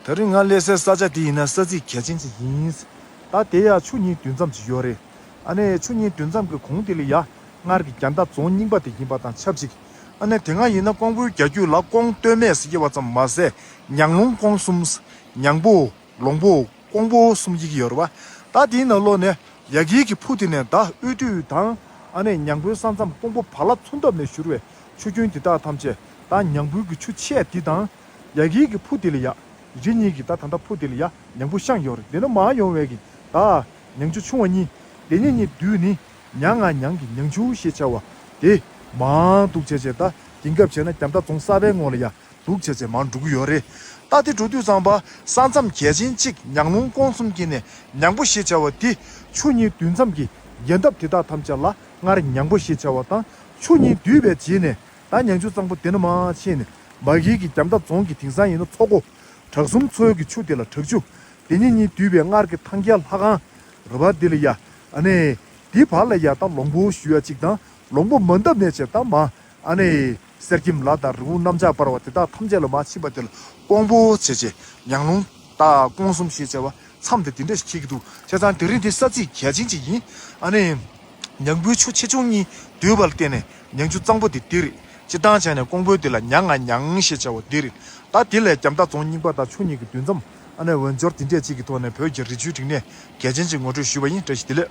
ད་རིང་ང་སླེབས་སའི་ས་ཆ་དེ་ཡིན་ན་ས་ཚིགས་གལ་ཆེན་ཞིག་ཡིན། ད་དེ་ཡག་ཆུ་གཉིས་དུས་མཚམས་ཀྱི་ཡོད་རེད། ཨ་ནེ། ཆུ་གཉིས་དུས་མཚམས་ཀྱི་གོང་དེ་ལས་ཡག་སྔར་གྱི་རྒྱ་མདའ་རྫོང་རྙིང་པ་དེ་ཡིན་པ་དང་ཆབས་ཅིག་ཨ་ནེ་དེ་སྔ་ཡིན་ན་ཀོང་པོའི་རྒྱ་རྒྱུད་ལ་ཀོང་སྟོད་སྨད་ཟེར་གྱི་བ་ཙམ་མ་ཟད་ཉང་ལུང་ཀོང་གསུམ། ཉང་པོ། ལོང་པོ། ཀོང་པོ་གསུམ་ཡིག་གི་ཡོད་རེད་བ། ད་དེའི་ནང་ལོགས་ནས་ཡ་གིའི་གི་ཕུ་དེ་ནས་ད་དབུས་དུས་དང་ཨ་ནེ་ཉང་པོའི་ས་མཚམས་ཀོང་པོ་བར་ལ་མཚུངས་སྟབས་ནས་བཞུར་བའི་ཆུ་རྒྱུན་དེ་དག་ཐམས་ཅད་ད་ཉང་པོའི་གི་ཆུ་ཆད་དེ་དང། ཡ་གིའི་གི་ཕུ་དེ་ལ་ཡ། རི་གཉིས་ཀྱི་ད་ད་ད་ཕུ་དེ་ལ་ཡ་མྱང་བུ་ཤང་ཡོར་དེ་ནུ་མ་ཡོང་བའི་གི་ད། མྱང་ཆུ་ཆུང་བ་གཉིས་དེ་གཉིས་གཉིས་བསྡུས་ནི་མྱང་ང་མྱང་གི་མྱང་ཆུ་ཞེས་བྱ་བ། དེ། མང་འདུག་བྱས་བྱས་ད་གིན་སྐབས་བྱས་ན་རྒྱ་མདའ་རྫོང་གསར་པའི་ངོ་ལ་ཡ། འདུག་བྱས་བྱས་མང་འགྲོ་གི་ཡོ་རེད་ད། དེ་འགྲོ་དུས་ཚང་པ་ས་མཚམས་གལ་ཆེན་གཅིག་མྱང་ལུང་ཀོང་གསུམ་གྱི་ནས་མྱང་བུ་ཞེས་བྱ་བ་དེ། ཆུ་གཉིས་བསྡུས་མཚམས་ཀྱི་རྒྱལ་འདབས་དེ་དག་ཐམས་ཅད་ལ་སྔར་མྱང་བུ་ཞེས་བྱ་བ་དང་ཆུ་གཉིས་བསྡུས་པའི་རྗེས་ནས་ད་ཉང་ཆུ་གཙང་པོ་དེ་ན་མ་ཕྱིན་ནས་མ་གིའི་གི་རྒྱམ་ཐབ་རྫོང་གི་དིང་སང་ཡིན་ན་ཚོགས་གོ། བྲག་གསུམ་མཚོའི་གི་ཆུ་དེ་ལ་བྲག་ཆུ། དེ་ཉིད་གཉིས་འདུས་པའི་སྔར་གི་ཐང་རྒྱལ་ལྷ་ཁང། ར་བ་དེ་ལ་ཡ། ཨནེ། དེའི་བར་ལ་ཡ་དང་ལོང་བུ་བཞུ་ཡ་ཅིག་དང་ལོང་བུ་མ་འདབ་ནས་བྱེད་དང་མ། ཨནེ། གསེར་སྐྱེམས་ལ་དང་རི་བོང་གནམ་ལྕགས་འབར་བ་དེ་དག་ཐམས་ཅད་ལ་མ་ཕྱིན་པ་དེ་ལ་ཀོང་པོ། བྱེད་བྱེད། ཉང་ལུང། སྟག། ཀོང་གསུམ་ཞེས་བྱ་བ། མཚམས་དེ་དེ་འདྲ་ཞིག་འཁྱེར་གྱི་འདུག་བྱས་ཙང་དེ་རིང་དེ་ས་ཚིགས་གལ་ཆེན་ཅིག་ཡིན། ཨ་ནེ། ཉང་བུའི་ཆུ་ཆེ་ཆུང་གཉིས་བསྡུས་པར་བརྟེན་ནས་ཉང་ཆུ་གཙང་པོ་དེ་འདི་རེད་ཅེས་སྟངས་བྱས་ནས་ཀོང་པོའི་དེ་ལ་ཉང་ང་ཉང་ཞེས་བྱ་བ་འདི་རེད། ད་དེ་ལས་རྒྱམ་ཐག་རྫོང་རྙིང་པ་དང་ཆུ་གཉིས་ཀྱི་མདུན་མཚམས་ཨ་ནེ་འོས་སྦྱོར་དེ་འདྲས་གཅིག་གི་ཐོག་ནས་བོད་རྒྱ་རི་ཆུའི་རིག་གནས་གལ་ཆེན་ཅིག་ངོ་སྤྲོད་ཞུས་པ་ཡིན་བཀྲ་ཤིས་བདེ་ལེགས།